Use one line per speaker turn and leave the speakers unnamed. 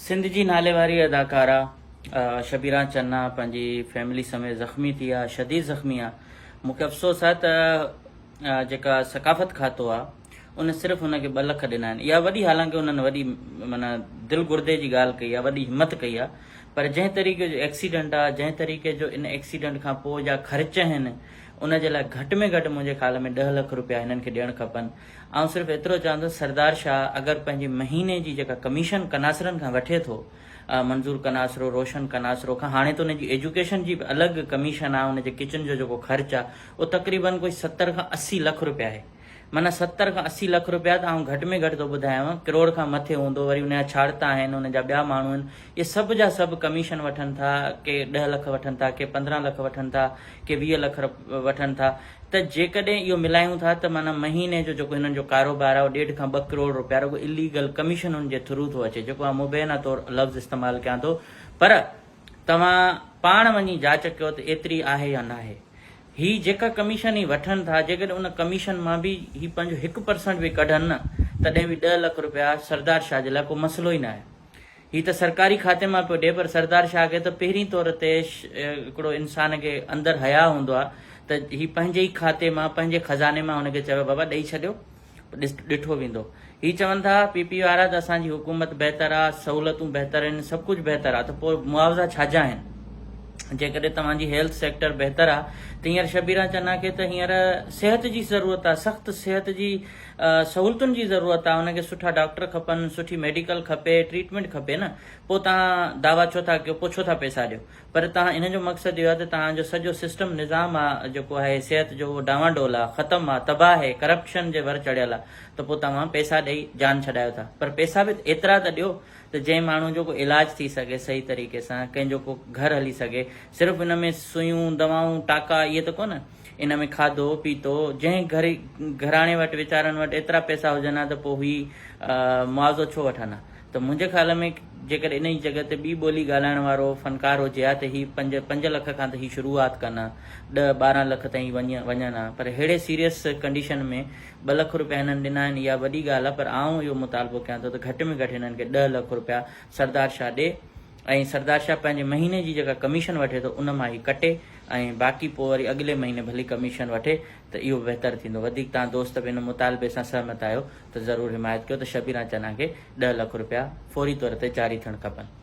سنڌ جي ناليواري اداڪارا شبيرا چنا پنهنجي فيملي سميت زخمي ٿي آ شديد زخمي آ مون کي افسوس آ ته جيڪا ثقافت کاتو آ ان صرف ان کي ٻه لک ڏنا آهن اها وڏي حالانڪه انهن وڏي مانا دل گردي جي ڳالهه ڪئي آ وڏي همت ڪئي آ پر جنهن طريقي جو ايڪسيڊنٽ آ جنهن طريقي جو ان ايڪسيڊنٽ کان پوء جا خرچ آهن ان جي لاء گهٽ ۾ گهٽ منهنجي خيال ۾ ڏهه لک روپيا هنن کي ڏيڻ کپن آئون صرف ايترو چوان ٿو سردار شاهه اگر پنهنجي مهيني جي جيڪا ڪميشن ڪناسرن کان وٺي ٿو منظور ڪناسرو روشن ڪناسرو کان هاڻي ته ان جي ايجوڪيشن جي به الڳ ڪميشن آهي ان جي ڪچن جو جيڪو خرچ آهي اهو تقريبن ڪوئي ستر کان اسي لک روپيا آهي معنيٰ ستر کان اسي لک روپيا ته آئون گهٽ ۾ گهٽ ٿو ٻڌايانو ڪروڙ کان مٿي هوندو وري ان جا ڇاڙتا آهن ان جا ٻيا ماڻهو آهن اهي سڀ جا سڀ ڪميشن وٺن ٿا، ڪي ڏهه لک وٺن ٿا، ڪي پندرهن لک وٺن ٿا، ڪي ويهه لک وٺن ٿا، ته جيڪڏهن اهو ملايون ٿا ته معنيٰ مهيني جو جيڪو هنن جو ڪاروبار آهي اهو ڏيڍ کان ٻه ڪروڙ روپيا رڳو اليگل ڪميشنن جي ٿرو ٿو اچي جيڪو آئون مبينا طور لفظ استعمال ڪيان ٿو پر توهان پاڻ وڃي جاچ ڪيو ته ايتري آهي يا ناهي هي جيڪا ڪميشن هي وٺن ٿا جيڪڏهن ان ڪميشن مان به هي پنهنجو هڪ پرسنٽ به ڪڍن نه تڏهن به ڏهه لک روپيا سردار شاهه جي لاء ڪو مسئلو ئي ناهي هي ته سرڪاري کاتي مان پيو ڏئي پر سردار شاهه کي ته پهرين طور تي هڪڙو انسان کي اندر حياء هوندو آ ته هي پنهنجي ئي کاتي مان پنهنجي خزاني مان هن کي چوي بابا ڏئي ڇڏيو ڏٺو ويندو هي چون ٿا پي پي وارا ته اسان جي حڪومت بهتر آ سهولتون بهتر آهن سڀ ڪجهه بهتر آ ته پوء معاوضا ڇا جا آهن جيڪڏهن توهان جي هيلٿ سيڪٽر بهتر آ ته هينئر شبيران چنا کي ته هينئر صحت جي ضرورت آ سخت صحت جي سهولتن جي ضرورت آ انهن کي سٺا ڊاڪٽر کپن سٺي ميڊيڪل کپي ٽريٽمينٽ کپي نه پو تهان دعويٰ ڇو ٿا ڪيو پو ڇو ٿا پئسا ڏيو پر تهان انهن جو مقصد اهو آ ته تهان جو سڄو سسٽم نظام آ جيڪو آهي صحت جو اهو ڊانوا ڊول آ ختم آ تباهه هي ڪرپشن جي ور چڙهيل آ ته پو توهان پئسا ڏئي جان ڇڏايو ٿا پر پئسا به ايترا ته ڏيو ته جنهن ماڻهو جو ڪو علاج ٿي سگهي صحيح طريقي سان ڪنهن جو ڪو گهر هلي سگهي صرف ان ۾ سوئيون دوائون ٽاڪا اهي ته ڪونه ان ۾ کاڌو پيتو جنهن گهري گهراڻي وٽ ويچارن وٽ ايترا پئسا هجن ها ته پوء هي معاوضو ڇو وٺن ها ته منهنجي خيال ۾ جيڪڏهن انهي جڳهه تي ٻي ٻولي ڳالهائڻ وارو فنڪار هجي ها ته هي پنج پنج لک کان ته هي شروعات ڪن ها ڏهه ٻارهن لک تائين وڃن ها پر ههڙي سيريس ڪنڊيشن ۾ ٻه لک روپيا هنن ڏنا آهن اها وڏي ڳالهه ها پر آئون اهو مطالبو ڪيان ٿو ته گهٽ ۾ گهٽ هنن کي ڏهه لک روپيا سردار شاهه ڏي ۽ سردار شاهه پنهنجي مهيني جي جيڪا ڪميشن وٺي ٿو ان مان هي ڪٽي ۽ باقي پوء وري اڳلي مهيني ڀلي ڪميشن وٺي ته اهو بهتر ٿيندو وڌيڪ توهان دوست به ان مطالبي سان سهمت آهيو ته ضرور حمايت ڪيو ته شبيران چنا کي ڏهه لک رپيا فوري طور تي جاري ٿيڻ کپن.